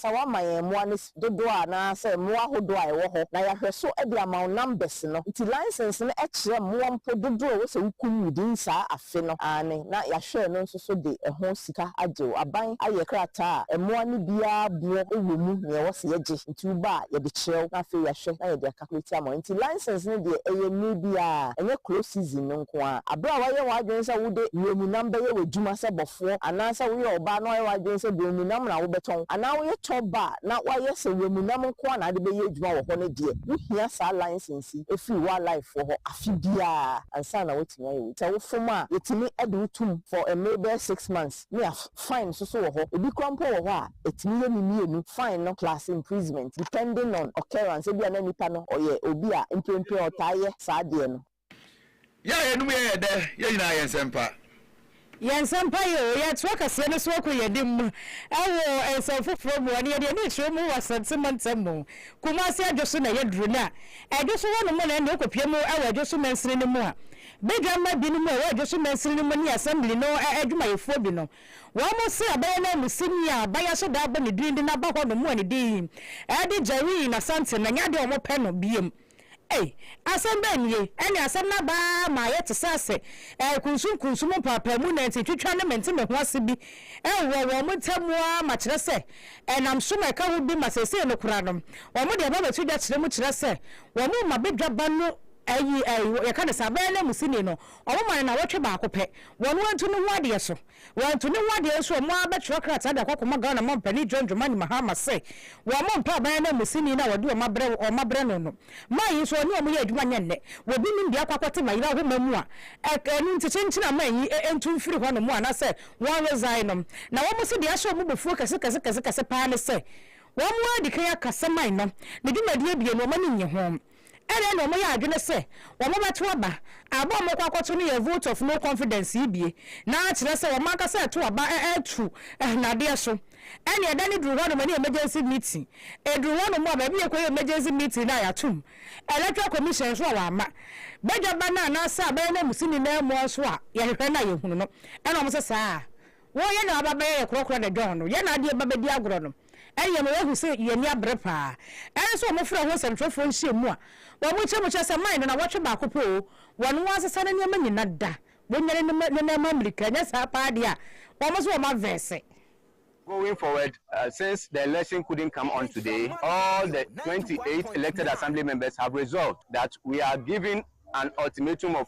Sɛ wɔama yɛn mmoa no fi dodoɔ a anaasɛ mmoa ahodoɔ a ɛwɔ hɔ na yɛahwɛ so de ama wo numbers no nti license no kyerɛ mmoa mpo dodoɔ a ɛwɔ sɛ wo kum within saa afe no aane na yɛahwɛɛ no nso so de ɛho sika agye wo aban ayɛ krataa a mmoa no biara boɔ wɔ mu nea ɛwɔ sɛ yɛgye nti wo ba a yɛde kyerɛ wo na afei yɛahwɛ na yɛde aka Ahweatiamɔ nti license no deɛ ɛyɛ mere biara, ɛnyɛ close season no nko ara. Aberɛ a woayɛ w'adwene sɛ wode wuram nam bɛyɛ w'adwuma sɛ bɔfoɔ anaa sɛ woyɛ ɔbaa na woayɛ w'adwene sɛ wuram nam na wobɛtɔn anaa woyɛ tour bar na woayɛ sɛ wuram nam nko ara na wode bɛyɛ adwuma wɔ hɔ no deɛ, wohia saa license yi firi wildlife foɔ hɔ afe biara ansa na woatumi ayɛ w'adwuma. Sɛ wofom a, yɛtumi de wo tom for mmere bɛyɛ six months. ne a fine nso so wɔ hɔ. Ebi koraa mpo wɔ hɔ a ɛtumi yɛ ne mmienu fine no plus imprisonment depending on occurrence ebia na nipa no ɔyɛ obi a mprempren ɔtaa yɛ saa adeɛ no. Yɛ a yɛnom yɛ yɛ dɛ, yɛ nyinaa yɛ nsɛmpa. Yɛ nsɛmpa yɛ o, yɛ atoa kaseɛ no so ako yɛ dem wɔ nsɛm foforɔ mu o, ɛno yɛde ani rekyerɛ mu wɔ Asante mantam mu, Kumase Adwo so na yɛ duru no a, Adwo so hɔ nom na ɛnneɛ wokɔ pie mu wɔ Adwo so mansini no mu a, Badwamma binom a wɔwɔ Dwoso Mansini no mu ne Assembly no adwumayɛfoɔ bi no, wɔn mo se abɛyɛ nanmusini a bayɛ so daa bɔ ne din de n'aba hɔ no mu anidie yi de Jereen Asante na nyɛ adeɛ a wɔpɛ no biom. Ei! Asɛm bɛn nie? Ɛne asɛm no aba ara ma ayɛ te sɛ ase nkunsunkunsum mpaapaamu na ntentwitwa ne mentemeho ase bi wɔ wɔn mo ntam ara ma kyerɛ sɛ ɛnam som a ɛka ho bi ma seesei no koraa no wɔde aba abɛto dwa kyerɛ mu kyerɛ sɛ wɔn mma badwabba no Ayi, ayi, yɛka no saa, bɛyɛ nanmusini no, wɔma no nnawɔtwe baako pɛ, wɔn antu ne ho adeɛ so. Wɔantu ne ho adeɛ nso a, wɔn ara bɛtwerɛ krataa de akɔ akɔma Ghana mampanin John Dramani Mahama sɛ, wɔmmɔ mpaa bɛyɛ nanmusini no a wɔde wɔn abrɛ wɔn wɔn abrɛ no no. Man yi nso, wɔne wɔn yɛ adwuma nyɛ nnɛ. Wɔbi nim deɛ akɔ akɔte Mayera homa mu a, ɛ, ɛno nti kyenkyena man yi ɛ, ntu mfiri hɔ nom anaasɛ wɔn resign nom. Na wɔn se deɛ ahyɛ wɔn bo fuo kɛse kɛse kɛse kɛse paa ne sɛ, wɔn ara adi kan akasa man no, ne dwumadie bie no, wɔn ani nnye ho. Ɛdeɛn na wɔyɛ adwene sɛ wɔbɛto aba? Aba a wɔkɔ akɔto no yɛ vote of no confidence yi bie? Na akyerɛ sɛ wɔn ankasa reto aba atu nnadeɛ so? Ɛnneɛ da no duru hɔ nom ne emergency meeting. Ɛduru hɔ nom a, baabi a yɛkɔyɛ emergency meeting no a yɛato mu. Electoral Commission nso a wɔamma badwa ba no anaasɛ abɛyɛ nanmusini nanmua nso a yɛhwehwɛ no a yɛhunu no. Ɛna wɔn sɛ saa a. Wo yɛ na waba bɛyɛ yɛ korɔkorɔ de dɔn no, yɛ na adeɛ ba bɛdi agorɔ no, ɛyɛ ma wahu sɛ yɛ ani abere paa. Ɛno nso wɔn frɛ ho nsɛmtwerɛfoɔ nhyiamu a wɔn kyɛ mu kyerɛ sɛ man no nawɔtwe baako pɛ oo, wɔn nwa asesa ne nneɛma nyina da, wɔnyane ne ne nan mu amirika, ɛnyɛ saa paa deɛ a wɔn nso wɔn avɛɛse. Going forward, since the election couldn't come on today, all the twenty eight elected assembly members have resolved that we are giving an ultimatum of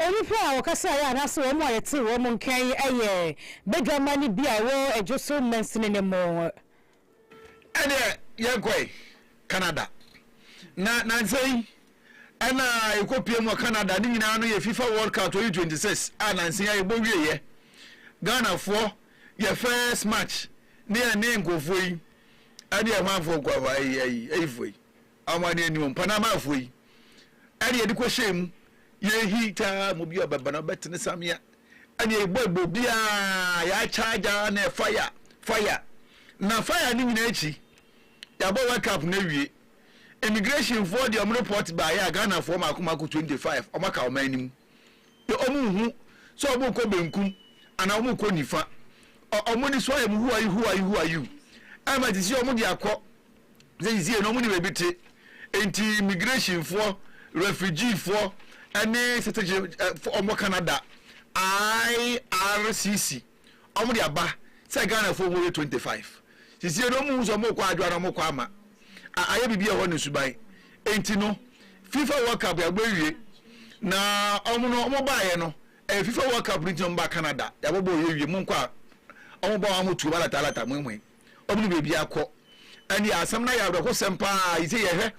Onipa a ɔkasaeɛ anaasɛ wɔn a yɛtee wɔn nka yi yɛ badwamma no bi a ɛwɔ Adwo so mansini no mu. Ɛnneɛ yɛkɔe Canada, na nansa yi na yɛkɔpiem wɔ Canada. Ne nyinaa no yɛ Fifa World Cup 2026 a nansa yi a yɛbɔ wieeɛ. Ghanafoɔ yɛ first match ne yɛne nkurɔfoɔ yi ne yɛn hwanfoɔ nkurɔfoɔ ayi ayi ayifoɔ yi. Awane ani o, Mpanamafoɔ yi ɛne yɛde kɔ hyɛn mu, yɛrehi taa mu bi a ɔbɛba na ɔbɛtene samea ɛne yɛbɔ ɛbɔ obiara, yɛakyagya na fire, fire, na fire ne nyinaa akyi, yɛabɔ wake up na awie. Immigration foɔ deɛ wɔn report baeɛ a Ghanafoɔ mako mako 25 wɔn aka ɔman no mu, yɛ wɔn nhu sɛ wɔn rekɔ benkum anaa wɔn rekɔ nifa, wɔn ani so ayɛ mu who are you, who are you, who are you, ɛma te sɛ wɔn de akɔ Seisie no ɔmo nim ebi te nti immigration foɔ, refugee foɔ ɛne citizenship foɔ ɔmo wɔ Canada IRCC ɔmo de aba sɛ Ghana foɔ ɔmo yɛ twenty five seisie no ɔmo hu sɛ ɔmo kɔ adwoa na ɔmo kɔ ama a ayɛ biribi ɛhɔ ne suban nti no FIFA World Cup yɛabɔ awie na ɔmo no ɔmo baayɛ no ɛyɛ FIFA World Cup no nti na ɔmo ba Canada yɛabɔbɔ ɔyɛ wie mo nkɔ a ɔmo ba ɔmo tuo ba lata lata mwen mwen. wɔn ne baabi akɔ. Ɛnde asɛm no ayɛ awerɛhosɛm paa a ese yɛhwɛ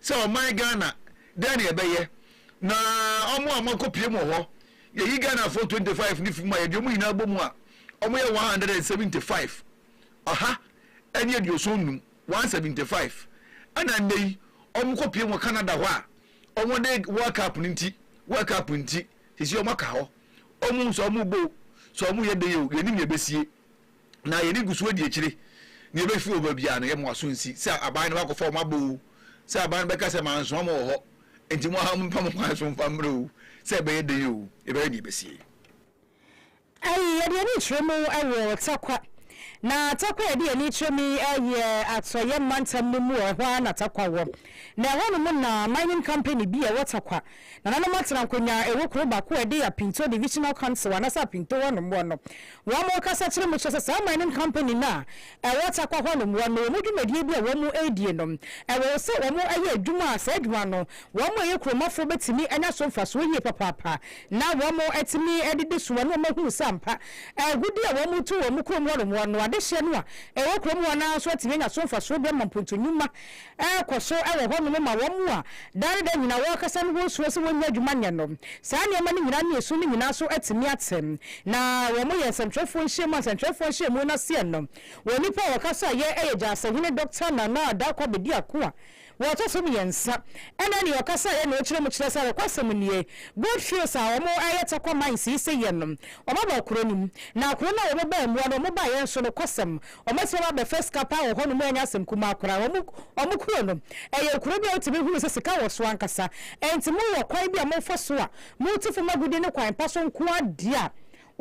sɛ ɔman Ghana dɛn na yɛbɛyɛ na wɔn a wɔakɔpue mu wɔ hɔ, yɛyi Ghanafoɔ 25 no fi mu a yɛde wɔn nyinaa bɔ mu a, wɔyɛ 175, ɔha ne aduoson nnum, 175, ɛna nnɛ yi wɔkɔpue mu wɔ Canada hɔ a wɔde World Cup no nti, World Cup nti, sisi wɔaka hɔ. Wɔn nso wɔrebɔ o, sɛ wɔyɛ dɛn o, yɛnnim nea ɛbɛsie. Na yɛn ani gu so adi akyire. Nea ebefi wɔ baabi a no, yɛma w'aso nsi, sɛ aban no bɛakɔfa wɔn aba oo, sɛ aban no bɛka sɛ mansoma mo wɔ hɔ, enti mo ara momfa mo kwan so mfa mmra oo, sɛ ɛbɛyɛ dɛn oo, yɛbɛyɛ nea ebesie. Ai, yɛde yɛn ani kyerɛ mu wɔ Tarkwa, na Tarkwa a yɛde yɛn ani kyerɛ mu yi yɛ Atɔeɛ mantam no mu a ɛhɔ ara na Tarkwa wɔ, na ɛhɔnom na mining company bi a ɛwɔ Tarkwa Nananom atsena nkonnwa a ɛwɔ kurow baako a ɛde Apinto Divisional Council anaasɛ Apinto hɔ no mmoa no. Wɔn rekasa kyerɛ mu kyerɛ sɛ saa mining company no a ɛwɔ Tarkwa hɔ no mmoa no wɔn dwumadie bi a wɔn redie no ɛwɔ sɛ wɔn yɛ adwuma a saa adwuma no wɔn a ɛyɛ kuromafoɔ bɛtumi anya so mfasoɔ yie papaapa na wɔn atumi de de sua no wɔahunu sɛ ampa agudeɛ a wɔn retu wɔn kurom hɔ no mmoa no adehyeɛ no a ɛwɔ kurom hɔ no ara nso atumi anya so mfasoɔ bi ama mpontu nnwuma rekɔ so wɔ hɔnom ma wɔn a daa ne daa nyinaa wɔkasa no ho suro sɛ wɔrennya adwuma nyɛ no. Saa nneɛma no nyinaa ne esu no nyinaa so atumi ate. Na wɔyɛ nsɛnkyerɛwfoɔ nhyiamu a nsɛnkyerɛwfoɔ nhyiamu no aseɛ no, wɔn nnipa a wɔkasa yɛ yɛ Gyasɛhene Dɔkta Nana Addaa Kwabedi Ako a wɔtɔ so mmiɛnsa ɛne nea ɔkasa yɛ nea ɔkyerɛ mu kyerɛ sɛ nokwasɛm nie Gold Fields a wɔyɛ Tarkwa Mines yi sɛ yɛ no wɔaba kuro no mu na kuro no a wɔbɛbaa mua no wɔbaeɛ nso nokwasɛm Wɔbɛsrɛ wo abɛfa sika paa wɔ hɔnom a ɛnyɛ asɛm kumaa koraa. Wɔn wɔn kuro no yɛ kuro bi a wotumi hunu sɛ sika wɔ so ankasa. Enti mowɔ kwan bi a mofa so a mote fam agudeɛ ne kwan pa so nko ara deɛ a,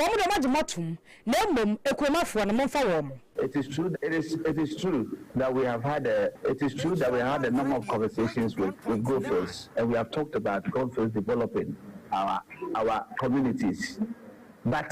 wɔn deɛ wɔagye mo atom. Na mmom kuromafoɔ no, momfa wɔn. It is true that it is it is true that we have had a it is true that we have had a number of conversations with with Goldfields and we have talked about Goldfields developing our our communities but.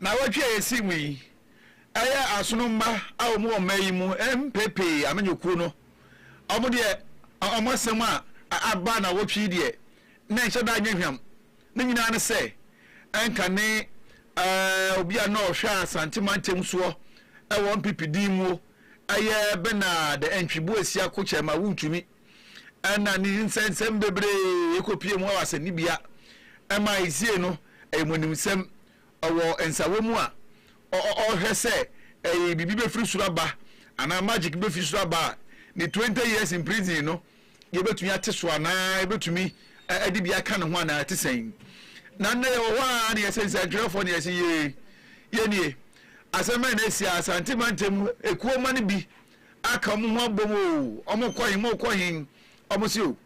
Naawɔtwe a esi mu yi, ɛyɛ asono mma a wɔn wɔ mmaa yi mu mpɛ pii amanyɔ kuo no. Wɔn deɛ wɔn asɛm a aba naawɔtwe yi deɛ na ɛnhyɛ da nyɛ hwam. Ne nyinaa ne sɛ ɛnka ne obi a na ɔhwɛ Asante mantam soɔ wɔ NPP din muo, ɛyɛ Bernard Antwi Boasia Kokyɛrma Wontumi. ɛna ne nsɛnsɛm bebree ɛkɔpie mu wɔ asɛnnibea ɛma esie no ayɛmɔnimsɛm wɔ nsawɔ mu a ɔhwɛ sɛ ɛyɛ biribi bɛfiri soro aba anaa magic bɛfiri soro aba a ne 20 years in prison no yɛbɛtumi ate so anaa ɛbɛtumi ɛde bi aka ne ho anaa ɛte sɛn na nnɛ yɛwɔ hɔ a ne yɛsɛ nsɛntwerɛfoɔ ne yɛsɛ yɛ yɛnie asɛm bɛn na ɛsi a asante mantam mu ɛkuo ma no bi aka ɔmo ho abom o, ɔmo kɔ he, mookɔ he, ɔmo se o,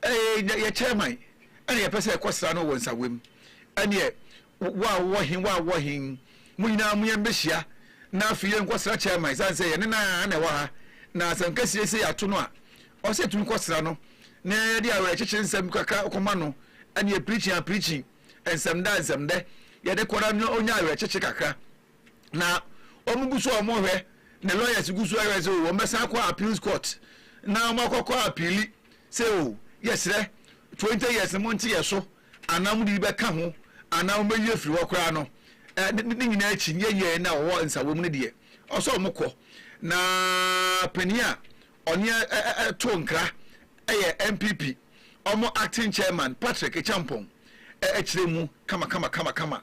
ɛɛɛ yɛ chairman ɛna yɛpɛ sɛ yɛkɔ sra no wɔ Nsawam, ɛneɛ wo a wowɔ he, wo a wowɔ he, mo nyinaa mo yɛn bɛhyia na afei yɛn kɔ sra chairman ɛsiane sɛ yɛne no ara na ɛwɔ ha, na sɛ nka siesie yɛato no a, ɔsɛ yɛtumi kɔ sra no na yɛde awerɛkyekye nsɛm kakra kɔma no, ɛneɛ preaching a preaching, nsɛmdɛ a nsɛmdɛ, yɛde kɔ na ɔnya awerɛkyekye kakra. na wɔn gu so a wɔn hwɛ ne lawyers gu so ahwɛ sɛ o wɔn bɛsan akɔ appeals court na wɔn akɔkɔ apiili sɛ o yɛsrɛ twenty years no mo nte yɛ so anaa mo de bi bɛka ho anaa wɔn bɛyi afiri hɔ koraa no ɛɛ ne ne nyinaa akyi nyɛ yɛn na wɔwɔ nsawo mu no deɛ ɔsɛ wɔn kɔ na panyin a ɔne ɛto nkra ɛyɛ npp wɔn acting chairman patrick ekyampɔn ɛkyerɛ mu kama kama kama kama.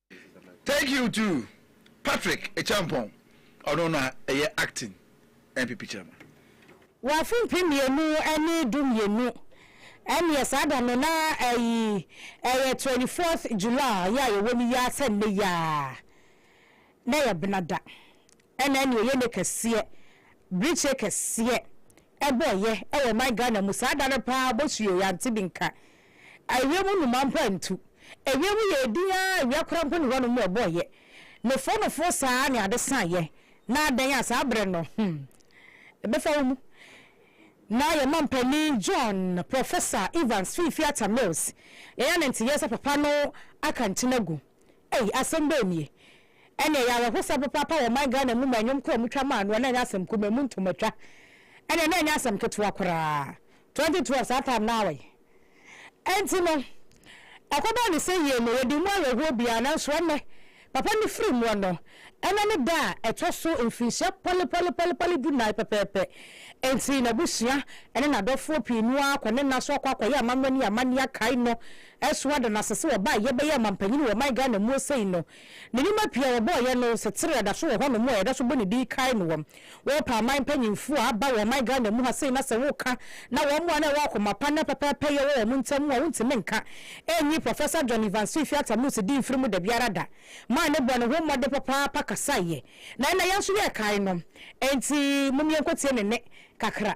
Thank you to Patrick Ekyampong ɔno na ɛyɛ acting NPP chairman. Wɔ afe mpem mmienu ne du mmienu ɛneɛ saa da no na ɛyi ɛyɛ twenty fourth July yi a yɛwɔ no yi ara sɛ nnɛ yi ara na ɛyɛ Benada Ɛna ɛne ɛyɛ ne kɛseɛ brekyeɛ kɛseɛ ɛbɔeɛ ɛwɔ ɔman Ghana mu saa da no paa bɔsuo yɛante bi nka awia mu nnomaa mpo antu awia mu yɛɛ din aa awia koraa mpo ne hɔnom ɛbɔeɛ nofoɔ nofoɔ saa ne ade saeɛ na adɛn a saa berɛ no hmm ɛbɛfa wo mu na yɛn mampanin John Professor Evans Fiifi Atta Mills yɛn ananteeɛ sɛ papa no aka nkyene agu Ei asɛm bɛn nie? Ɛne ɛyɛ awerɛhosɛm papaapa wɔ ɔman Ghana mu ma nnwom koro a wɔtwa maa noɔ na ɛnyɛ asɛm kumaa ɛmu ntomatwa ɛneɛ na ɛnyɛ asɛm ketewa koraa 2012 saa time no awɛn ɛnti no ɛkɔbaa ne sɛ yie no yɛde mu awerɛhoɔ biaa nanso ɛnɛ papa no firi muɔ no ɛnɛ ne da a ɛtɔ so mfirinhyia pɔlepɔlepɔlepɔle du nan pɛpɛɛpɛ ɛnti n'abusua ɛne n'adɔfoɔ pii no ara kɔ ne nna so akɔ akɔyɛ amammerɛ ne amanneɛ akae no Ɛso ada no ase sɛ ɔbaa yɛ bɛyɛ ɔmanpanyin wɔ ɔman Ghana muo sei no, ne nneɛma pii a wɔbɔɔ yɛ no setere ɛda so wɔ hɔ nom a yɛda so bɔ ne din kae no wɔm. Wɔpɛ aman mpanyinfoɔ a aba wɔ ɔman Ghana mu ha sei na sɛ wo ka na wɔn a na ɛwɔ akoma pa na pɛpɛɛpɛ yɛ wɔ wɔn ntam mu a wontumi nka ɛnyi Professor John Evans Fifi Atta-Mills din mfiri mu da biara da maa no bɔɔ ne ho mmɔden papaapa kasaeɛ na ɛnna yɛn nso yɛkae no. Enti mom yɛnkɔtie ne nne kakra.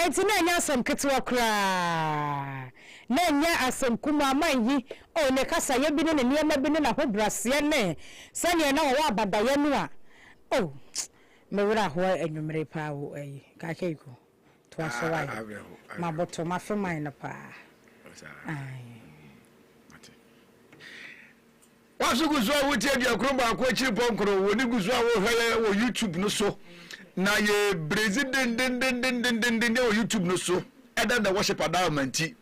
Enti na ɛnyɛ asɛm ketewa koraa. Na ɛnyɛ asɛm kumaa ma eyi, oh, ne kasayɛ bi ne ne nneɛma bi ne n'ahobrɛaseɛ ne sɛdeɛ na ɔwɔ abadaeɛ no a, oh, me werɛ ahoɔ anwummere paa o, ɛyi, Kakeiko, toa so wae, maboto, mafe man no paa, aye. Wo nso gu so a wotie Aduankron Baako Akyiri Pɔnkoro wɔ ne gu so a wohwɛɛ wɔ YouTube no so. Na yɛ bredzi dendendendendendenden wɔ YouTube no so. Ɛda da wɔhyɛ padao ma nti,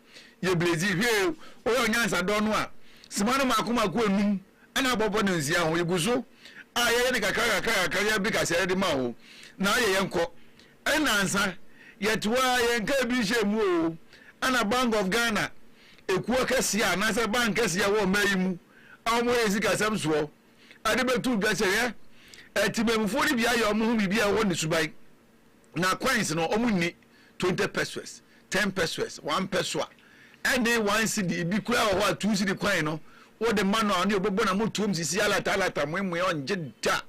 yɛ bredzi. Hwɛ o, woyɛ onyansa dɔ no a, sima no mako mako enum na abɔbɔ no nsia ho. Yɛ gu so a yɛyɛ no kakra kakra kakra yɛ bi kaseɛ de ma wo. Na yɛ yɛnkɔ. Nnansa, yɛte hɔ ara, yɛnkaa bi nhyɛɛ mu oo, ɛna Bank of Ghana ekuo akɛseɛ a, anaasɛ bank kɛseɛ a ɛwɔ ɔman yi mu a wɔyɛ sikasɛm soɔ de bɛtoo dwa sɛ, hwɛ, atemamufoɔ no bi ayɛ wɔn ho biribi a ɛwɔ hɔ ne suban, na coins no, wɔnni twenty pesewas, ten pesewas, one pesewa, ɛne one cedi, ebi koraa wɔ hɔ a, two cedi coin no, wode ma no a, ɔno deɛ ɔbɛbɔ n'amotuom sisi alata alata, moemoe, ɔngye da.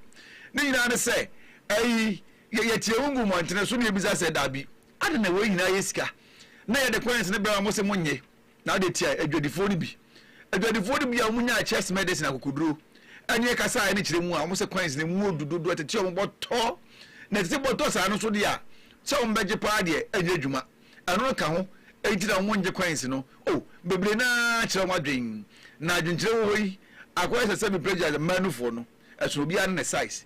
Ne nyinaa ne sɛ, ayi, Yɛyɛ teamu gu mmɔntene so na yɛbisa sɛ, Dabi, adɛn na wei nyinaa yɛ sika, na yɛde coins no brɛ wɔn sɛ monnye, na ade tiae, adwadifoɔ no bi, adwadifoɔ no bi a wɔnyaa chess medicine, akokoduro, ne ɛkasa a ɛne kyerɛ mu a wɔn sɛ coins no mu wɔ du dodo, ɛtete wɔn bɔtɔ, na ɛtete bɔtɔ saa no nso deɛ a, sɛ wɔn bɛgye paa deɛ, ɛnyɛ adwuma. Ɛno no ka ho, enti na wɔn nngye coins no. O, bebree no ara kyerɛ wɔn adwene, na adwenkyerɛ wɔ hɔ yi, akɔyɛ sɛ sɛ me plagiarize, Manufoɔ no, ɛsono obiara ne ne size.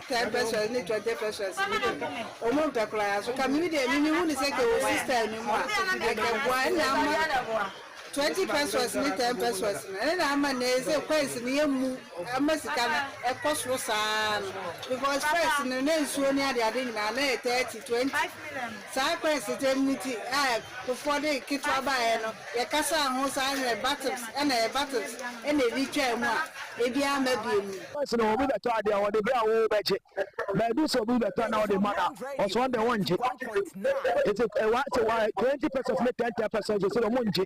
Ten pesos ne twenty pesos no bi no, wɔn mpɛ koraa. Nso ka mene deɛ mimi hu ne sɛ kɛ wɔ sister no mu a, ɛkɛ boa ɛna ama twenty pesos ne ten pesos no, ɛne na ama nɛ sɛ coins no yɛ mu ama sika no ɛkɔ soro saa no, because first no na nsuo ne adeade nyinaa na ɛyɛ thirty, twenty. Saa kwansitsɛm no ntsi a Kufuor dze ketsewa baeɛ no, yɛkasaa ho saa mmerɛ Battles na yɛ Battles na ebi twaa mu a, ebi amma biemu. Ɔse na obi bɛtɔ adeɛ a ɔde brɛ a wo bɛgye but ebi sɛ obi bɛtɔ na ɔde ma no a ɔse ɔno deɛ wɔngye nti wa se wa twenty pesos ne ten ten pesos ɔse ɔmongye.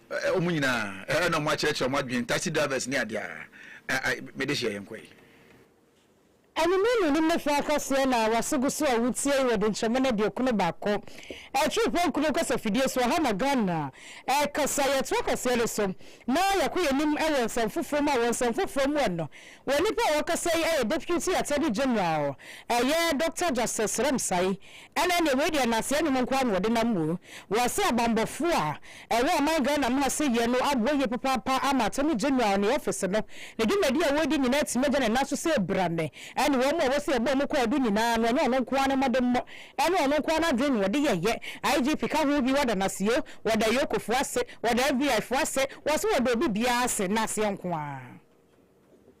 Wɔn nyinaa ɛna wɔn akyerɛkyerɛ wɔn adwene taxi drivers ne adeɛ a ai me de hyeɛ yɛn kɔ yi. Anwummerɛ no nim ne fɛ akɔseɛ na wase gu so a wotie yi wɔ Dunkyemma no aduokunu baako akyiri pɔnkɔ no kasa fidie so ɛha na Ghana ɛkasa yɛtoa kaseɛ no so na yɛkɔ yɛn anim wɔ nsɛm foforɔ mu a wɔ nsɛm foforɔ mu ɛno wɔ nnipa a wɔkasa yi ɛyɛ Deputy Attorney General ɛyɛ Doctor Justice Ramsay Ɛna ɛneɛ wei deɛ nnaseɛ nnwom nkoaa na wɔde nam mu. Wɔse abanbɔfoɔ a ɛwɔ ɔman Ghana mu ha sɛ yie no aboa yie papaapa ama Attorney General ne office no ne dwumadie a wɔredi nyinaa atumi agya ne nan so sɛ brane ɛne wɔn a wɔse yɛbɔ wɔn kwaadu nyinaa no ɛnyɛ ɔno nkoaa ne mmɔdemmɔ ɛne ɔno nkoaa n'adwene na wɔde yɛyɛ. IGP ka ho bi wɔda no ase o, wɔda Yoko foɔ ase, wɔda FBI foɔ ase, wɔse wɔda obi biara ase, nnaseɛ nkoaa.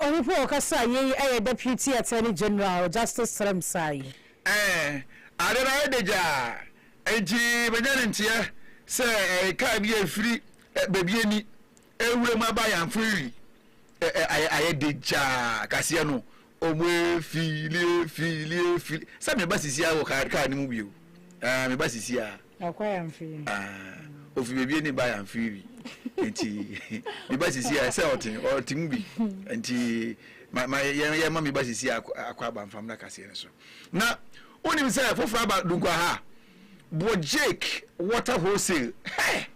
Ɔno mpo ɔkasa a yei ɛyɛ Deputy Attorney General Justice Serem Sayi. Ɛɛ, ade no ayɛ dɛ gyaa, enti manya no nteɛ sɛ ɛyɛ kaa bi a ɛfiri baabi ani rewura mu aba Ayamfree. Ɛɛ, ayɛ dɛ gyaa, kaseɛ no Ɔmo efiili efiili efiili sɛ me ba sisi a wɔ kaa kaa ne mu bi o ɛɛ me ba sisi a. Ɔkɔ yɛ nfiri. Ɛɛ ofi beebi ɛni ba yɛ nfiri bi nti me ba sisi a sɛ ɔte ɔte mu bi nti ma ma yɛ yɛ ma me ba sisi a akɔ aba nfam na kaseɛ no so na onim sɛ foforɔ aba dunkwa ha bɔ jake water wholesale hɛɛ.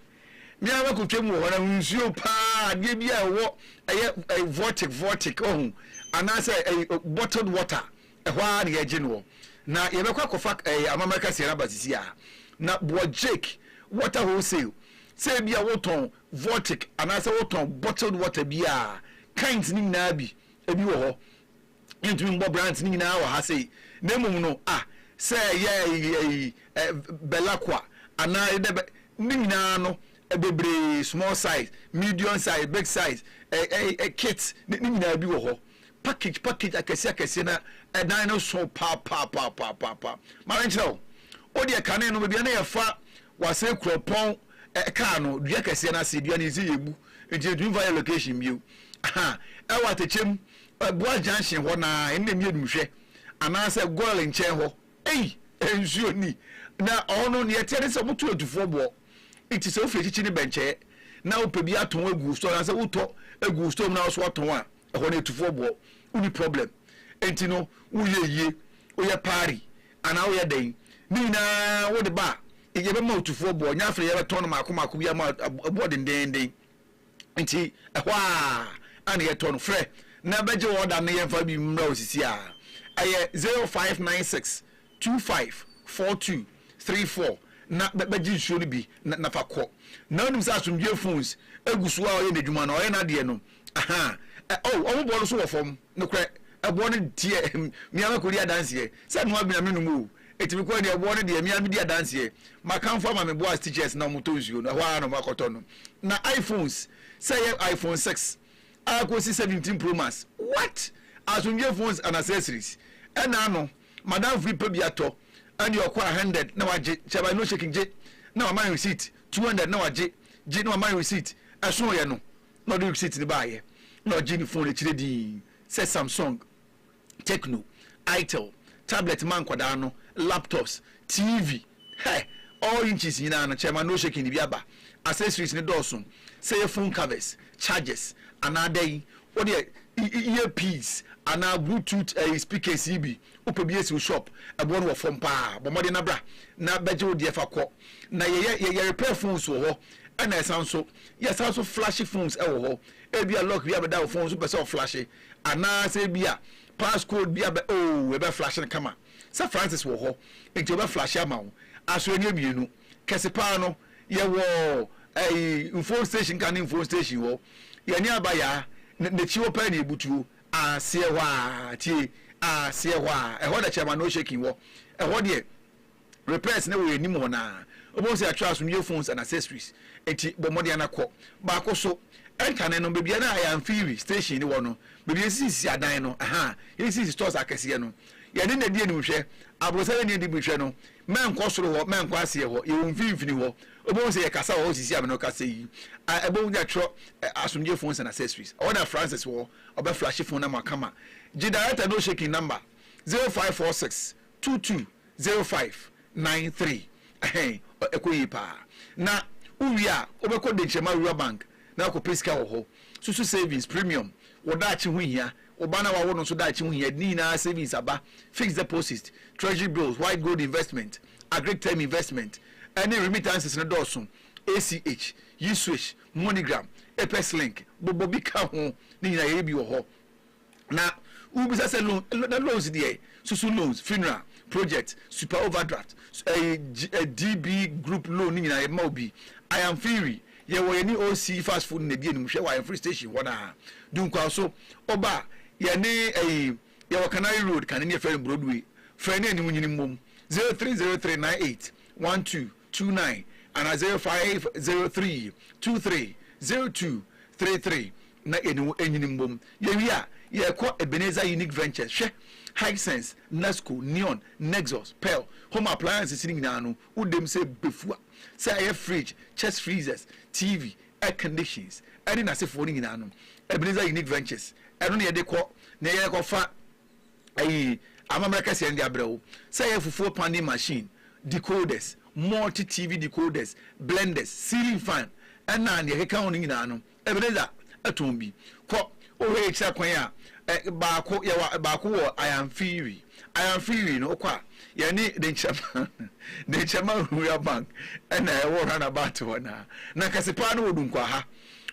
me ara makɔtwa mu wɔ hɔ no ho nsuo paa adeɛ bi a ɛwɔ ɛyɛ vortic vortic ɔho anaasɛ bottled water ɛhɔ ara na yɛgye no wɔ na yɛbɛkɔ akɔfa ɛyɛ amammerɛ kaseɛ no aba sisi a na boɔ jake water wholesale sɛ ebi a wotɔn vortic anaasɛ wotɔn bottled water bi a kinds no nyinaa bi ebi wɔ hɔ Yɛntumi mbɔ bra ntsi ne nyinaa wɔ ha sei, na mbom no a sɛ yɛ ɛyi ɛ bɛlako a anaa yɛ dɛ bɛ ne nyinaa no bebree small size, medium size, big size ɛ ɛ ɛ kit ne ne nyinaa bi wɔ hɔ package package akɛseɛ akɛseɛ na ɛdan no so paapaapaapaapaapaa. Ma me nkyerɛ wo, wo deɛ kane no baabi a na yɛfa w'asɛe kurɔpɔn ɛ kaa no dua kɛseɛ no ase dua no yɛsi yɛbu nti yɛntumi mfa yɛ location bio ahaa ɛwɔ atɛkyɛm Agua junction hɔ na ɛnna mmienu hwɛ anaasɛ goil nkyɛn hɔ ei nsuo ni na ɔhɔ no neɛ ɛteɛ ne sɛ wɔto atufoɔ boɔ nti sɛ wofiri akyikyi ne bɛnkyɛɛ na wopɛ bi atɔn agu wo store anaasɛ wotɔ agu wo store mu na wo so watɔn a ɛhɔ no atufoɔ boɔ woni problem nti no woyɛ yie woyɛ paari anaa woyɛ dɛn ne nyinaa wode ba a yɛbɛma atufoɔ boɔ nyɛ afei yɛbɛtɔn no maako maako bi ama ɛboɔ dendeenden Nti ɛhɔ aa na yɛtɔ no. Frɛ na bɛgye order no yɛmfa bi mmra wo sisi aa. Ɛyɛ 0596 25 42 34 na bɛgye nsuo no bi na fa kɔ. Na wonim sɛ Asomdwoeɛ Phones gu so aa ɔyɛ n'adwuma no, ɔyɛ n'adeɛ no ahaa. Oh ɔmo boɔ no so wɔ fam, nokorɛ ɛboɔ no teɛ, me aa mɛkɔdi adanseɛ sɛ noa bi na menom oo. Eti me kɔɔ nea ɔwɔ no deɛ me ara me di adanseɛ. M'akanfo ama me boa stitches na wɔn tɔ nsuo no, ɛhɔ ara na wɔn akɔ tɔ no. Na iPhones, sɛ ɛyɛ iPhone six a kɔsi seventeen pro max, what? Asomdwie phones and accessories. Ɛna ano, madamfo bi pɛ bi atɔ, ɛnneɛ ɔkɔ a hundred na wagye, kyɛ by no shaking gye na wama yɛn receipt, two hundred na wagye, gye na wama yɛn receipt, ɛsoo yɛn no na ɔde receipt no baeɛ na ɔgyee ne phone akyire dinn sɛ Samsung Tecno, Itel, Tablet ma nkwadaa no, Laptops, TV, hɛ, all inches nyinaa no kyɛma no shaking de bi aba. Accessories no dɔɔso sɛ yɛ phone covers, chargers anaa dɛn, wo deɛ ear piece anaa Bluetooth ɛyi speakers yi bi wo pɛ bi ɛsi wo shop, ɛboɔ no wɔ fam paa, bɔ mmɔden na bra na bɛgye wo deɛ fa kɔ. Na yɛ yɛ yɛ repair phones wɔ hɔ ɛna ɛsan nso yɛ san nso flashy phones ɛwɔ hɔ, ɛbia lock bi abɛda wo phone no so wopɛ sɛ wo flashy, Anaa sɛ ebia pass code bi abɛ oh ɛbɛ flash no kama sɛ Francis wɔ hɔ nti ɔbɛ flash ama wo asoɛneɛ mmienu kɛse paa no yɛwɔ ɛyi mfon station ka ne mfon station hɔ yɛne aba yaa na n'akyi hɔ paa ne ebutuo aseɛ hɔ a tie aseɛ hɔ a ɛhɔ na chairman no shaking wɔ ɛhɔ deɛ Repairs na ɛwɔ anim hɔ no ara wobɛhu sɛ yɛatwerɛ aso New Phones and Accessories nti bɔ mmɔden na kɔ. Baako so, Ntane no, baabi a na Ayamfiri station no wɔ no, baabi a yɛsisisisi adan no, ɛha a yɛsisisi stores akɛseɛ no, yɛne na ɛdi anim hwɛ. Aborosan ani adi biribi hwɛ no, mɛnkɔ soro hɔ, mɛnkɔ aseɛ hɔ, yɛwɔ mfimfini hɔ. Wobɛhu sɛ yɛkasa wɔ hɔ sisi a me ne wo kasa yi a ɛbɔ na yɛatwerɛ Asomdwoe Phones and Accessories. Ɛhɔ na Francis wɔ, ɔbɛflashe phone number kama. Gye director no shaking number, 0546 Two two zero five nine three Ɛhɛn, ɛkɔ yie paa. Na wo wie a, wo bɛkɔ Denkyirema Rural Bank na wakɔ pɛ sika wɔ hɔ. Susu savings, premium, wo daakye ho hia, wo ba no a wawo no nso daakye ho hia, yɛde ne nyinaa savings aba, fixed deposit, treasury bills, white gold investment, agric term investment, ɛne remittances no dɔɔso, ACH, yi swish, moneygram, apex link, bobɔ bi ka ho, ne nyinaa yɛyɛ bi wɔ hɔ. Na wobisa sɛ loan na loans deɛ susu loans funeral project super overdraft ɛyi DB group loan ne nyinaa yɛbɛma obi ayamfiri yɛwɔ yɛne OC fast food na ɛdi anim hwɛ wɔ ayamfiri station hɔ naa dunkwaw so ɔba yɛne ɛyi yɛwɔ Canary road kane ne yɛfrɛ no Broadway frɛ ne anim nyini mmom zero three zero three nine eight one two two nine anaa zero five zero three two three zero two three three na yɛne wo anyini mmom. Yɛwie a, yɛkɔ Ebenezer Unique Ventures. Hwɛ! Hisense, Nasco, Neon, Nexus, Pearl, Home Appliances no nyinaa no, wo dam sɛ befua. Sɛ ɛyɛ fridge, chest freezers, TV, air conditions ne n'asefoɔ no nyinaa no, Ebenezer Unique Ventures, ɛno na yɛde kɔ na yɛkɔfa Ayi amammerɛ kɛseɛ no de abrɛ wo sɛ ɛyɛ fufuo pounding machine, decoders, multi TV decoders, blenders, ceiling fan ɛna nea ɛkeka ho no nyinaa no Ebenezer tɔn bi. Kɔ wohwɛ yɛ kyerɛ kwan a ɛ baako yɛwɔ baako wɔ Ayanfiri. Ayanfiri no wokɔ a yɛne Denkyɛma Denkyɛma Rural Bank ɛna ɛwɔ round about hɔ no ara. Nankase paa no wɔ Dunkwaha.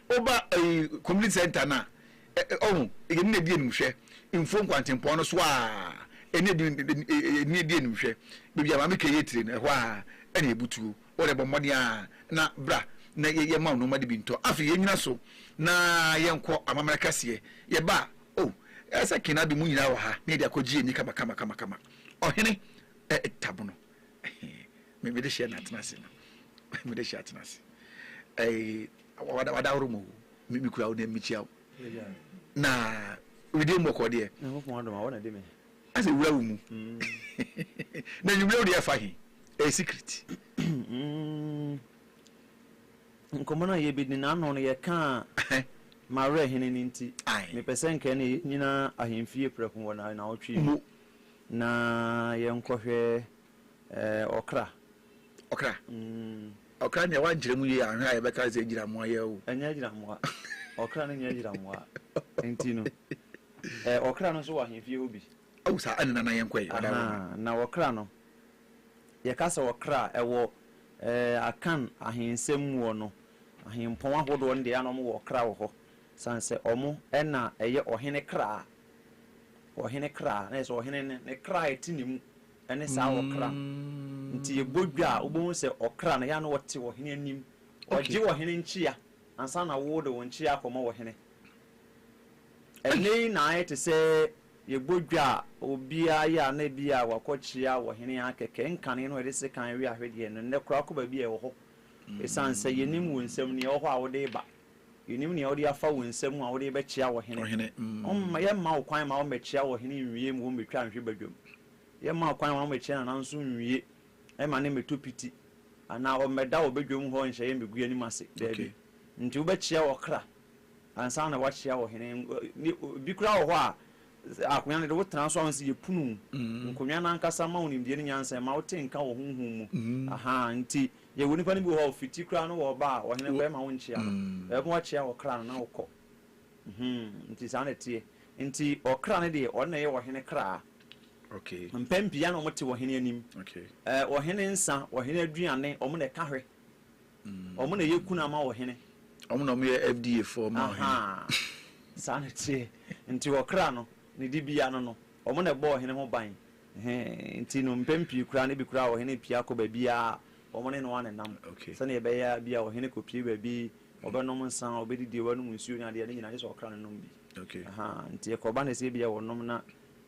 Woba ɛyi community center no a Ɛ ɛ Ɔho, yɛne no adi animhwɛ, mfuo nkwantempɔn no so ara, yɛne adi yɛne no adi animhwɛ, baabi a Maame Kay tire no, ɛhɔ ara na yɛbutuo. Ɔho, yɛbɔ mmɔden ara na bra na yɛ yɛmma wo nnoɔma no bi ntɔ. Afei yɛnnyina so na yɛnkɔ amammerɛ kɛseɛ. Yɛba a, o, ɛyɛ sɛ Kena de mo nyinaa wɔ ha na yɛde akɔgye yɛn ani kamakamakama. Ɔhene, Ɛ ɛ Tab no, ɛhe, me mede hyɛ no atena ase no, mede hyɛ atena ase. Ɛ ɛ. Wadaworo mu o, me kura wo na mekyia wo. Na wedeɛ mu ɔkɔɔ deɛ. Nyankopɔn adom a wɔn na de me. Asɛ wura wo mu. Na nwumire wo deɛ ɛfa he? Ɛyɛ secret. Nkɔmmɔ no a yɛbɛdi no ano no yɛkaa m'awerɛhene no nti. Mepɛ sɛ nka ɛnna yɛnnyina ahemfie prɛko wɔ nnawɔtwe yi mu na yɛnkɔhwɛ ɔkra. Ɔkra. Mm. Ɔkra nea wankyerɛ mu yie anhwɛ a yɛbɛka no sɛ agyiramoa yɛ o. Ɛnyɛ agyiramoa. Ɔkra no nyɛ agyiramoa. Nti no, eh, ɔkra no nso wɔ ahemfie hɔ bi. Aw saa ɛne nana yɛnkɔ ɛ ɔda Roma. Ahaa, na ɔkra no, yɛka sɛ ɔkra a, ɛwɔ eh, Akan ahensɛm mu hɔ no, ahempɔn ahodoɔ no deɛ na wɔwɔ ɔkra wɔ hɔ. Sane sɛ wɔn na ɛyɛ ɔhene kra, ɔhene kra, na yɛ sɛ ɔhene no, ne kra a ɛte ne mu ne saa ɔkra no nti yɛbɔ dwa a wobɛhu sɛ ɔkra no yɛ a na ɔte ɔhene anim, ɔgye ɔhene nkyea ansa na wode wo nkyea akɔma ɔhene. Ɛnnɛ yi na ayɛ te sɛ yɛbɔ dwa a obiara yɛ a na ebia wakɔkyea ɔhene ara kɛkɛ, nkane no a yɛde sekan we ahwedeɛ no nnɛ koraa kɔ baabi a ɛwɔ hɔ ɛsiane sɛ yɛnnim wo nsam nea ɛwɔ hɔ a wode reba, yɛnnim nea wode afa wo nsa mu a wode rebɛkyea ɔhene. Yɛremma wo kwan mma wommɛkyea ɔhene nwie mu wommɛtwa nhwe badwam. Yɛmaa kwan ma wɔbɛkyerɛ na nanso nwie ma no mmɛtɔ piti anaa wɔmmɛda wɔ badwam hɔ nhyɛ yɛn baguam anim ase. Dabi. Enti wobɛkyea ɔkra ansa na woakyea ɔhene. Ebi koraa wɔ hɔ a, akonnwa no de, wotena so a, wohu sɛ yɛpono wo. Nkonnwa no ankasa ma wo nimdeɛ ne nyansa, ɛma wote nka wɔ honhom mu. Ahaa, enti yɛwɔ nnipa no bi wɔ hɔ a, fiti koraa no wɔba a, ɔhene kɔ a, ɛmma wonkyea no. Ɛbɛma woakyea ɔkra no na wokɔ. Mhmm nti saa na ɛteɛ. Nti ɔkra no deɛ ɔno na ɛyɛ ɔhene kraa. Mpɛn pii ana wɔte ɔhene anim. Ɛɛ ɔhene nsa, ɔhene aduane, wɔn na ɛka hwɛ. Wɔn na ɛyɛ kunu ama ɔhene. Wɔn na wɔyɛ FDA foɔ ma ɔhene. Ahaa saa na ɛteɛ. Nti ɔkra no, ne dibea no no, wɔn na ɛbɔ ɔhene ho ban. Ɛhee nti no mpɛn pii koraa no ebi koraa ɔhene pia kɔ baabiara a, wɔn ne no ara na ɛnam. Sɛdeɛ ɛbɛyɛ a bi a ɔhene kɔpie baabi Ɔbɛnom nsa, ɔbɛdidi, wanom nsuo ne adeɛ, ne nyinaa gye sɛ ɔkra no nom bi. Ahaa, nti ɛkɔba no sɛ ebia ɔnom na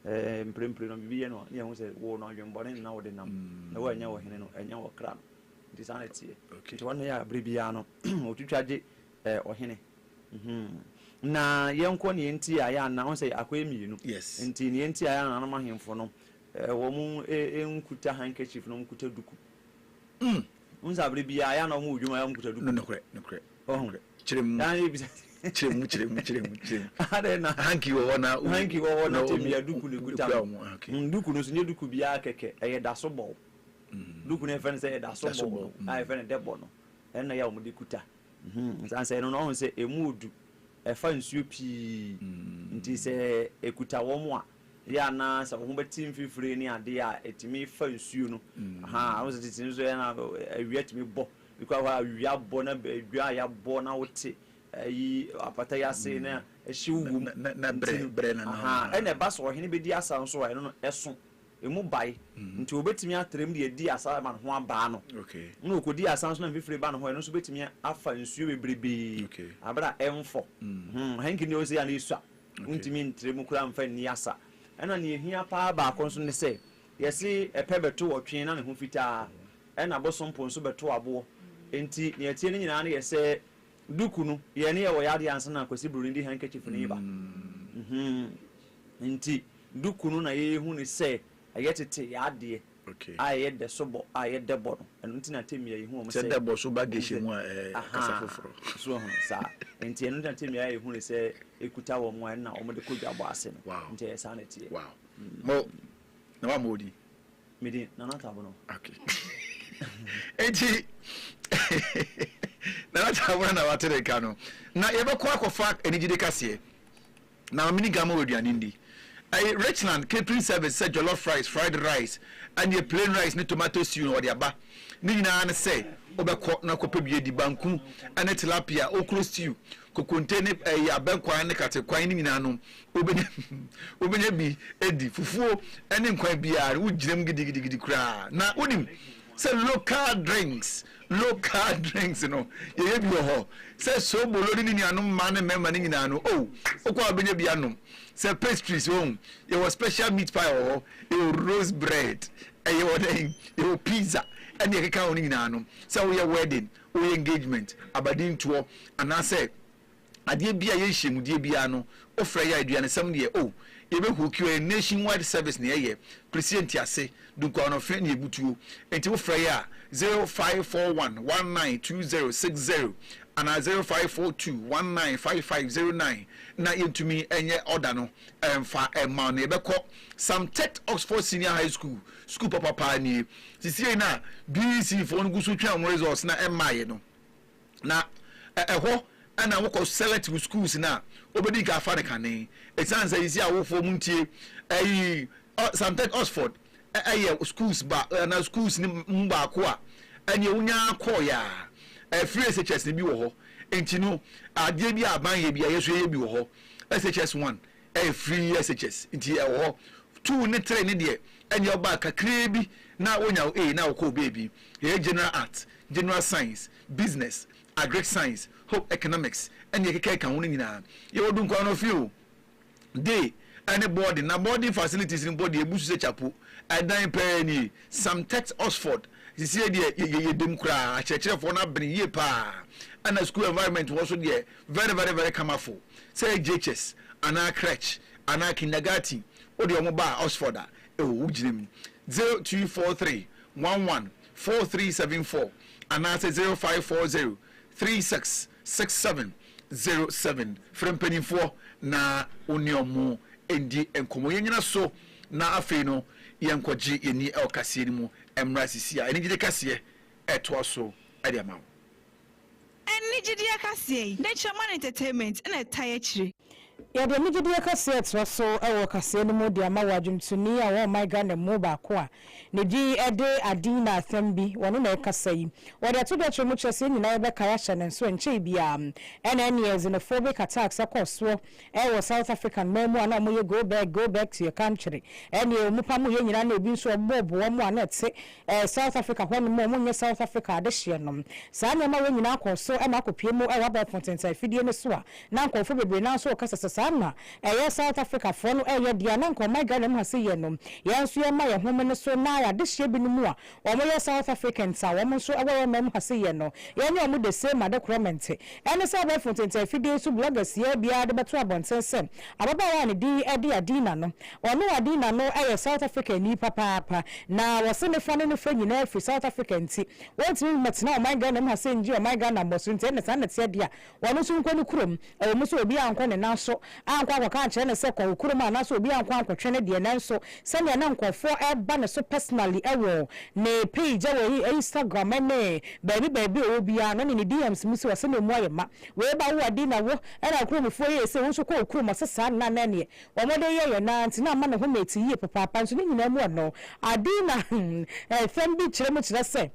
mprempren no biribi yɛ no a, ne yɛhu sɛ wo no adwemmɔne no na wode nam, na woannya ɔhene no, ɛnyɛ ɔkra no. Nti saa na ɛteɛ. Nti wɔn yɛ a berɛ biara no wɔtwitwa gye ɔhene. Na yɛnkɔ deɛ nti a yɛ a na, wohu sɛ akɔyɛ mmienu, nti deɛ nti a yɛ a nananom ahemfo no wɔn nkuta handkerchief na wɔn nkuta duku. Mm, wohu sɛ abere biara yɛ ana ɔmo wɔ dwom a yɛ ɔmo kuta duku. No nokorɛ, nokorɛ, nokorɛ. Kyerɛ mu. Yɛ ana yɛ bisa. Kyerɛ mu, kyerɛ mu, kyerɛ mu, kyerɛ mu. Adɛn na. Hanky wɔ hɔ na. Hanky wɔ hɔ na tebea duku na ekuta no. Ɔmo, okay. Mm, duku no nso nyɛ duku biara kɛkɛ, ɛyɛ daso bɔw. Duku no yɛfrɛ no sɛ yɛ daso bɔw no, a yɛfrɛ no dɛbɔ no, ɛno na yɛ a ɔmo de kuta. Mhm, san sɛ ɛno no, ɔho sɛ emu odu, ɛfa nsuo pii, nti sɛ ekuta wɔn a. Ebi a na sɛ wo ho bɛte mfifire ne adeɛ a, ɛtumi fa nsuo no. Ahaa, wo sɛ tete no nso yɛ na awia tumi bɔ. Bi kora hɔ a awia abɔ na dwa a yɛabɔ na wote ayi apata yi ase na ɛhyew wɔ mu. Na berɛ no. Ahaa, ɛna ɛba sɛ ɔhene bɛdi asa nso a, ɛno no ɛso. Ɛmu bae. Nti ɔbɛtumi atrɛm de adi asa ma ne ho abaa no. Ɛna ɔkɔdi asa nso na mfifire ba ne hɔ a, ɛno nso bɛtumi afa nsuo bebrebee. Aberɛ a ɛmfɔ. Ahaa, hanky no deɛ wo sɛ yɛ a na ɛsua. Wontumi ntra mu koraa mfa nni asa. Ɛnna nea ehia paa baako nso ne sɛ, yɛse ɛpɛ bɛtow ɔtwe na ne ho fitaa, ɛnna abosompo nso bɛtow aboɔ. Enti nea ɛteɛ no nyinaa ne yɛ sɛ duku no, yɛn no yɛwɔ yadeɛ ansa na Kwasi Broni de handkerchief no reba. Enti duku no na yɛhu ne sɛ ɛyɛ tete yadeɛ. a ɛyɛ dɛ so bɔ a ɛyɛ dɛ bɔ no, ɛno nti na Temi ayɛ hu wɔ mo sɛ. Sɛ dɛ bɔ so ba Geshe mu a, ɛyɛ kasa foforɔ. So wahunu? Saa. Nti ɛno nti na Temi ayɛ hu no sɛ ɛkuta wɔn a ɛna wɔde kɔ dwa bɔ ase no. Nti ɛyɛ saa na ɛteɛ. Wow. Mo, na wammɔ wo din? Me din, Nana Tabono. Okay. Nti, Nana Tabono na wate ne nka no. Na yɛbɛkɔ akɔfa anigyede kaseɛ. Na mini gama wɔ aduane ndi. Ɛyɛ Richland catering service sɛ jollof rice, fried rice, ɛneɛ plain rice ne tomato stew na wɔde aba. Ne nyinaa ne sɛ wobɛkɔ na kɔpɛ bi adi. Banku ne tilapia, okro stew, kokonte ne ɛyi abɛnkwan ne katekwan ne nyinaa no wobɛnya wobɛnya bi adi. Fufuo ne nkwan biara no wogyina mu gidigidigidi koraa. Na wonim sɛ local drinks Local drinks no yɛyɛ bi wɔ hɔ sɛ sobolo ne ne nuanom mmaa ne mmarima no nyinaa no oh wokɔ a wobɛnya bi anom sɛ pastries wɔn oh, yɛwɔ special meat pie wɔ hɔ yɛwɔ rose bread ɛyɛ wɔ dɛn yɛwɔ pizza ɛne ɛkeka ho no nyinaa no sɛ woyɛ wedding woyɛ engagement abadintoɔ anaasɛ Adeɛ biaa ɛyɛ nhyiamudeɛ biaa no wofrɛ yɛ a aduanesɛm deɛ oh yɛbɛ hook you ɛyɛ nation wide service na yɛyɛ please yɛnte ase dunkwa ɔnɔfe ne ɛbutuo nti wofrɛ yɛ a zero five four one one nine two zero six zero anaa zero five four two one nine five five zero nine na yɛntumi nyɛ order no mfa mma wo na yɛbɛkɔ Sam Tech Oxford Senior High School sukuu papa paa nie sisiei na BEC foɔ no gu so twɛn wɔn results na ɛmmaeɛ no Na ɛhɔ na wokɔ select wo schools no a wobɛdi kan afa no kane. Ɛsiane sɛ sisi awofoɔ mu ntie, ɛyi, sometimes Oxford ɛyɛ schools ba, na schools no mu baako a ɛneɛ wonya kɔɔyɛ a, ɛfiri SHS no bi wɔ hɔ. Nti no, adeɛ bi a aban yɛ bi a yɛso yɛyɛ bi wɔ hɔ, SHS 1. Ɛyɛ free SHS nti ɛwɔ hɔ. Two ne three ne deɛ ɛneɛ ɔbaa kakraa bi na wonya wo A na wokɔ wo baabi. Yɛyɛ general art, general science, business, agric science, home economics ɛne ɛkeka ɛka ho no nyinaa. Yɛwɔ Dunkwa Anɔfe o, day ɛne boarding na boarding facilities no mpo deɛ ɛbu so sɛ kyapo. Ɛdan paa nie. Some text Oxford. Sesie deɛ yɛ yɛ yɛdam koraa. Akyerɛkyerɛfoɔ no abene yie paa. Ɛna school environment wɔ so deɛ Very very very kamafo sɛ JHS anaa crèche anaa kindergarten wode ɔmo ba a Oxford a ɛwɔ wo gyina mu zero two four three one one four three seven four anaasɛ zero five four zero three six six seven zero seven frɛ mpaninfoɔ na wo ne ɔmo ndi nkɔmɔ yɛnyina so na afei no yɛnkɔ gye yɛni ɛwɔ kaseɛ no mu ɛmmra sisi a anigyede kaseɛ ɛtoa so ɛde ama wo. Ɛnne gyedie akaseɛ yi, Nature Man Entertainment na ɛtae akyire. Yɛde ɛnne gyedie akaseɛ retra so wɔ kaseɛ no mu de ama wɔ adwomtoni a ɔwɔ ɔman Ghana mu baako a ne din de Adina Athambi, ɔno na ɛkasa yi. Wɔde ato dwa kyerɛ mu kyerɛ sɛ yɛn nyinaa yɛbɛkae ahyɛ ne nso ɛnkyɛe biara. Ɛna ɛneɛ xenophobic attacks ɛkɔɔ soɔ wɔ South African man mu a na wɔyɛ go back, go back to your country. Ɛneɛ wɔn pamoyɛ nyinaa na ebi nso wɔbobɔboa wɔn a na ɛte Eh, South Africa hɔ nom o, monyɛ South Africa adehyeɛ nom. Saa nneɛma wei nyinaa kɔɔ so ma akɔpue mu wɔ abɛɛfo ntentan afidie no so a na nkurɔfoɔ bebree no ara nso rekasa sɛ saa na ɛyɛ South Africafoɔ no reyɛ deɛ a na nka ɔman Ghana mu ha sɛ yɛn no yɛn nso yɛmma yɛn ho mene so na adehyeɛ binom a wɔyɛ South Africans a wɔn nso wɔ yɛn man mu ha sɛ yɛn no yɛne wɔn the same adekorɔ mente Ɛne sɛ abɛɛfo ntentanfidie so blogger siaa biara de bɛto abɔnten sɛ ababaawa a ne din de Adina no. Ɔno Adina no yɛ South Africani papaapa na wɔse ne fa ne ne fa nyinaa firi South Africa nti wɔntumi mmɛtena ɔman Ghana mu ha sɛ nngye ɔman Ghana mmɔso nti ɛnna saa na ɛteɛ deɛ a ɔno nso nkɔ ne kurom ɛwɔ mu sɛ obiara nnkɔ ne nan so ankɔ ankɔka ankyerɛ no sɛ kɔ wo kurom anaasɛ obi ankɔ ankɔtwe no deɛ nanso sɛdeɛ na nkorɔfoɔ ɛreba ne so personally ɛwɔ ne page ɛwɔ Instagram ɛne baabi baabi ɔwɔ biara no ne ne DMs mu sɛ ɔsɛ na ɛmu ayɛ ma wei ba wo a dei na wo ɛna nkuromufoɔ yɛɛ sei wo nso kɔ wo kurom ɔsɛ saa no na na ɛneɛ wɔn de yɛyɛ no ara nti na ama ne ho mate yie papaapa nso ne nyinaa mu ɔno Adina ɛfɛm bi kyerɛ mu kyerɛ sɛ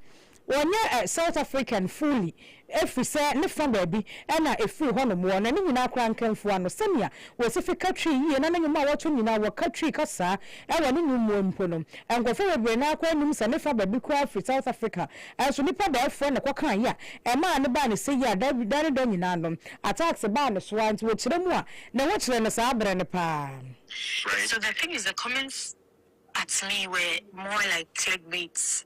Wɔnyɛ South African fully ɛfirisɛ ne fa baabi na ɛfiri hɔnom. Wɔ na ne nyinaa koraa nkamfua no sɛnea wɔsi fi ka Twi yie na ne nwom a wɔto nyinaa wɔ ka Twi kasaa ɛwɔ ne nwom mu mpo no nkurɔfoɔ bebree no ara koraa nnim sɛ ne fa baabi koraa firi South Africa nso nipa daɛfoɔ na kɔkaa yɛ a ɛmaa no baa ne sɛ yi a da da ne da nyinaa no attacks baa ne so ara nti wɔkyerɛ mu a ne ho kyerɛ no saa berɛ no paa. So the thing is the comments at me were more like clickbaits.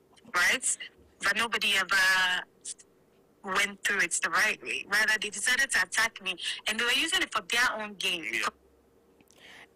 Right but nobody ever went through it the right way rather they decided to attack me and they were using it for their own gain.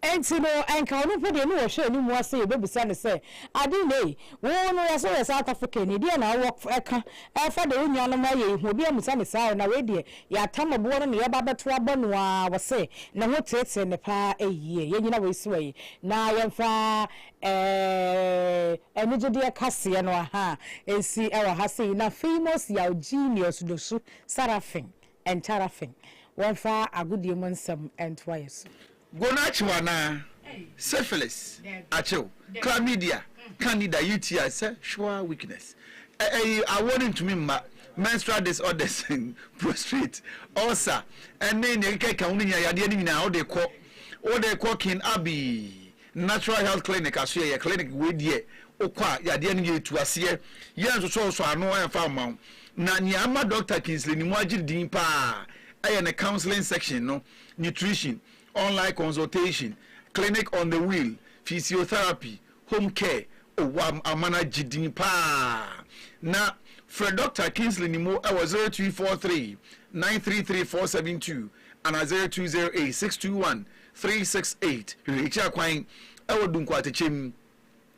Enti no anka ɔno mpo deɛ ne wɔhwɛɛ ne mu ase yɛbɛbisa no sɛ ade na ei wo no yɛse woyɛ South African ni deɛ na wowɔ ɛka ɛfa deɛ wo nuanom ayɛ yi ho obi amusa no saa ɛ na wei deɛ yɛatam aboɔ no na yɛba abɛto abɔ no a wɔse ne ho teetee no paa ei yɛ nyina wei so ei na yɛmfa ɛɛ Anigyedeɛ kaseɛ no aha a ɛsi wɔ ha sei na famous yaw genius Dosu Sarafin and Charafin wɔmfa agodie mu nsɛm ntoa yɛ so. Gono akyew anaa? Syphilis akyew? Chlamydia, Candida, UTI, sexual weakness, ɛyi awoɔ no ntumi mma, menstrual disorders, prostrate, ulcer, ɛne nea ɛkeka ɛka ho no nyinaa yadeɛ no nyinaa wode kɔ wode kɔ kin Abii Natural Health Clinic aso yɛ yɛ clinic wei deɛ wo kɔ a yadeɛ no yɛtu aseɛ yɛn nsosɔ nsɔ ano ɛnfa mma wo na nea ama Doctor Kingsley ne mu agye din paa ɛyɛ ne counseling section no nutrition online consultation clinic on the wheel physiotherapy home care oh wa ama no agye din paa na frɛ Doctor Kingsley ne mu ɛwɔ zero two four three nine three three four seven two ana zero two zero eight six two one Three six eight Hwehwɛkyia kwan wɔ Dunkwaatekyɛm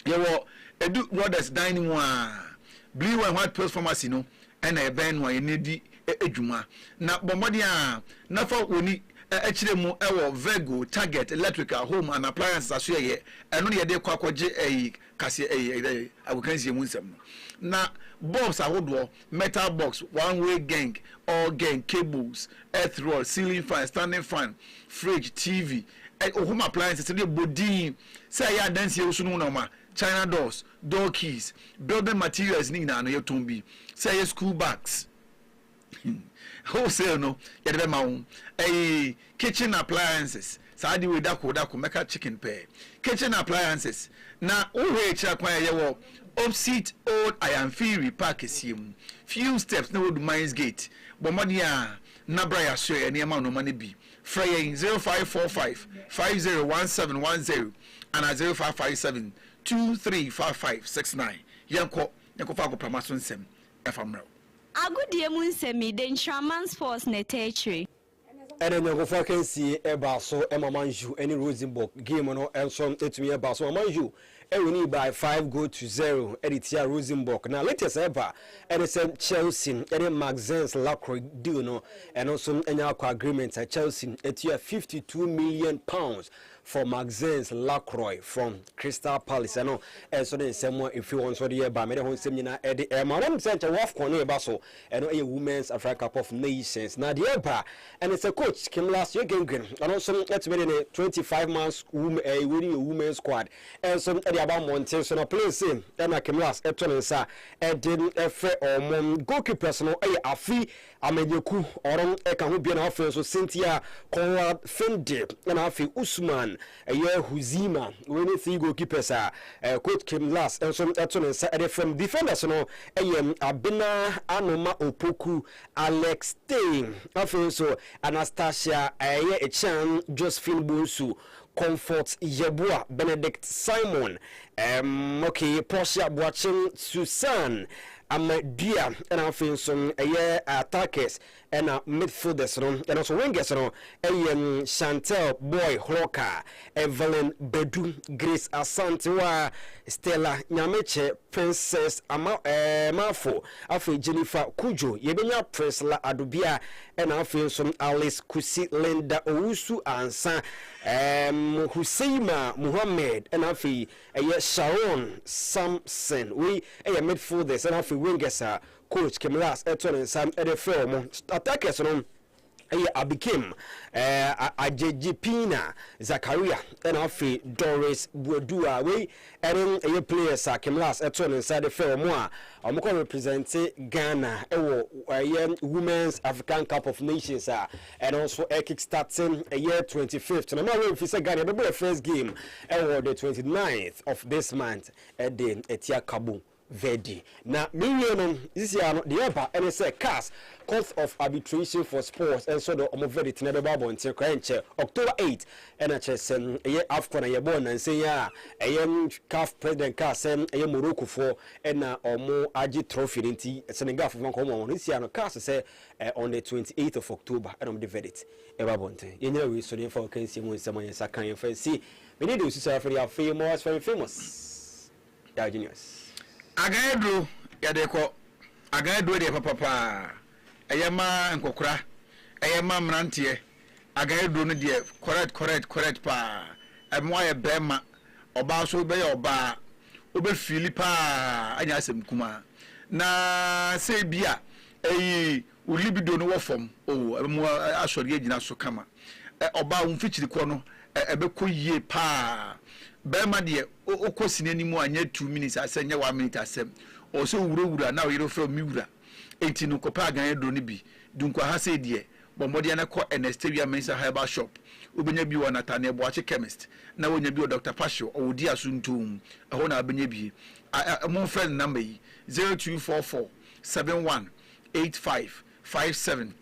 yɛwɔ Edu Brothers dan no mu aa Blue and white pills pharmacy no na ɛbɛn no a yɛne no di dwuma na bɔ mmɔden a na fa w'ani kyerɛ mu wɔ Virgo, Target, Electrical, Home and Appliances asoɛeɛ ɛno na yɛde kɔ akɔgye ɛyi kaseɛ ɛyi ɛyi ɛyi agokansie mu nsɛm no na bulbs ahodoɔ metal box one way geng all geng cables earth rod ceiling fan standing fan fridge tv ɛ home appliances sɛdeɛ ɛbɔ din sɛ ɛyɛ adansie woso no mu nɔɔma china doors door keys building materials ne nyinaa no yɛtɔn bi sɛ ɛyɛ school bags. Wholesale no yɛde bɛma wo. Ɛyi kitchen appliances, saa ade wei dako dako mɛka chicken pɛɛ. Kitchen appliances na wohwɛ akyira kwan a yɛwɔ opsit old Ayanfiri park kɛseɛ mu. Few steps na woadu mines gate. Bɔ mmɔden a na bra yɛasoɛ nneɛma nnoɔma no bi. Frɛ yɛn 0545 501710 anaa 0557 235569. Yɛnkɔ na yɛnkɔfa agoprama so nsɛm ɛfa mmra wo. Agodie mu nsɛm yi, de Nkraman Sports na ɛtaa kyire. Ɛna anyɔnkofoɔ akansie baa so ma Man U ne Rosenborg. Game no nso tumi baa so ma Man U winii by five goal to zero de tiaa Rosenborg. Na latest a ɛba ne sɛ Chelsea ne Maxence Lacroix deal no, ɛno nso anya akɔ agreement. Chelsea tua fifty two million pounds For Maxence Lacroix from Crystal Palace, ɛno nso ne nsɛm a ɛfiri hɔ nso de yɛba. Mede ho nsɛm nyinaa de rema. Wonim sɛ nkyɛ WAFCON no reba so. Ɛno yɛ Women's Africa Cup of Nations. Na deɛ ɛba ɛne sɛ coach Kimlas Yegenguen, ɔno nso atumi de ne 25 months wom ɛyi wei ne yɛ women squad nso de aba mmɔnten so. Na players sei ɛna Kimlas ɛto ne nsa ɛde ɛfrɛ wɔn. Goalkeepers no ɛyɛ Afi Amanyɛku, ɔrom ka ho bia na afei nso Cynthia Conrad Finde na afei Usman ɛyɛ Huzima. Wei ne three goalkeepers a coach Kim Lars nso to ne nsa de frɛ mu. Defenders no yɛ Abena Anoma Opoku, Alex Tey, afei nso Anastasia ɛyɛ Ekyean, Josephine Bonsu, Comfort Yeboah, Benedict Simon, um, okay, Portia Boakye, Susan Amadua, ɛna afei nso ɛyɛ attackers ɛna midfielders no, ɛna nso wingers no ɛyɛ um, Chantel Boy Hroka, Evelyn Badu, Grace Asantewa, Stella Nyamekyɛ, Princess Ama, eh, Mafo, afei Jennifer Kudjo, yɛbɛnya Priscilla Adobia, Ɛna afei nso Alice Kusi Linda Owusu Ansah, ɛɛm, Huseima Mohammed, ɛna afei ɛyɛ Sharon Samson, wei ɛyɛ midfielders, ɛna afei wingers a coach Kim Lass ɛto ne nsa ɛde frɛ wɔn. Attackers no ɛyɛ Abikim, ɛɛ, Agyegyepina Zakaria, ɛna afei Doris Buadua, wei Ɛno yɛ players a Kemlas too ne nsa de frɛ wɔn a wɔkɔ represente Ghana wɔ ɛyɛ Women's African Cup of Nations a ɛno nso ɛkick starte ɛyɛ twenty fifth na ma wɔmfi sɛ Ghana ɛbɛbɔ yɛ first game ɛwɔ the twenty ninth of this month ɛde atia Cabo Verdi. Na mewie no, sisiaa no, deɛ ɛba ne sɛ CAS, Court of Arbitration for Sports, nso de wɔn verdict no bɛba abɔnten koraa ɛnkyɛ, October eight, ɛna kyerɛ sɛ ɛyɛ Afcon a yɛbɔɔ nnansa yi a ɛyɛ CAF president kaa sɛ ɛyɛ Moroccofoɔ na wɔagye trophy no nti Senegalfoɔ mfa nkɔma wɔn. Sisiaa no, CAS sɛ on the twenty eighth of October ɛna wɔde verdict bɛba abɔnten. Yɛnyina wei so na yɛmfa ɔkansie mu nsɛm a yɛn nsa ka yɛmfa nsi. Mene Deosusa Afeni, afei more as fine famous. Diogenes. Agan aduro yɛde kɔ. Agan aduro deɛ papa paa. Ɛyɛ ma nkɔkora. Ɛyɛ ma mmeranteɛ. Agan aduro no deɛ correct correct correct paa. Ɛbɛma woayɛ barima. Ɔbaa nso wobɛyɛ ɔbaa. Wobɛ feeli paa anya asɛm kumaa. Na sɛ ebia ɛyi Wo libido no wɔ fam oo, ɛbɛmo asɔre agyina so kama. Ɔbaa wo mfikyiri kɔ no ɛbɛkɔ yie paa. Barima deɛ wokɔ sini anim a nyɛ two minutes asɛm, nyɛ one minute asɛm. Ɔwɔ sɛ wo wura wura na wo yere frɛ wo me wura. Enti no kɔpɛ agan aduro no bi. Dunkwaha sei deɛ, bɔ mmɔden ara kɔ Ernesteria Mensah Herbal Shop. Wobɛnya bi wɔ Nathaniel Boakye Chemist na woanya bi wɔ Doctor Pacio, ɔwɔ Dua so Ntoom, ɛhɔ na wobɛnya bi. Ɛ ɛ momfrɛ ne number yi, zero two four four seven one eight five five seven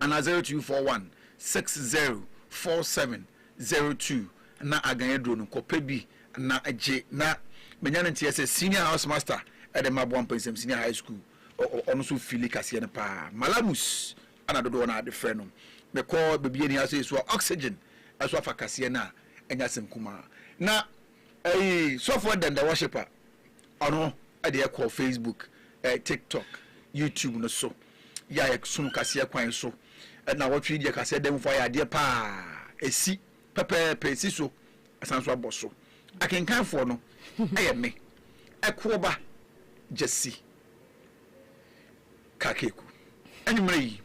anaa zero two four one six zero four seven zero two na agan aduro no kɔpɛ bi na gye na menya ne nteɛ sɛ senior house master ɛde ma boa mpɛnsɛm senior high school ɔno nso fili kaseɛ no paa malamus ana dodoɔ no ade frɛ no mekɔ baabi ani ha sɛ ɛso a oxygen ɛso afa kaseɛ no a ɛnyɛ asɛm kumaa na Eii sɔfoɔ dɛn the worshiper ɔno deɛ kɔ Facebook, TikTok, YouTube no so yɛ a yɛsono kaseɛ kwan so na wɔtwe yi deɛ kaseɛ dɛn foɔ ayɛ adeɛ paa esi pɛpɛɛpɛ esi so asan so abɔ so akenkan foɔ no ɛyɛ me ɛkoɔba gyasi. Kakeku, Anwumerɛ yi,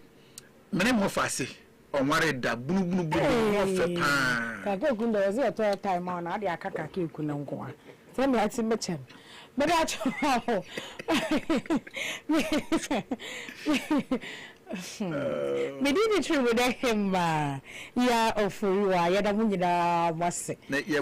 me ne Mɔfaase ɔnwaree da, bunubunubunu, ho ɔfɛ pa ara. Kakeku, Ndɛ wɔse yɛtɔ airtime ma wo na wode aka Kakeku no nko a, sɛdeɛ ate me kyɛ no, meda kyɛw Medi ne tiri mu dɛ hemmaa, Yaa Ofori-Waa, yɛda mo nyinaa mo ase. Na yɛkɔ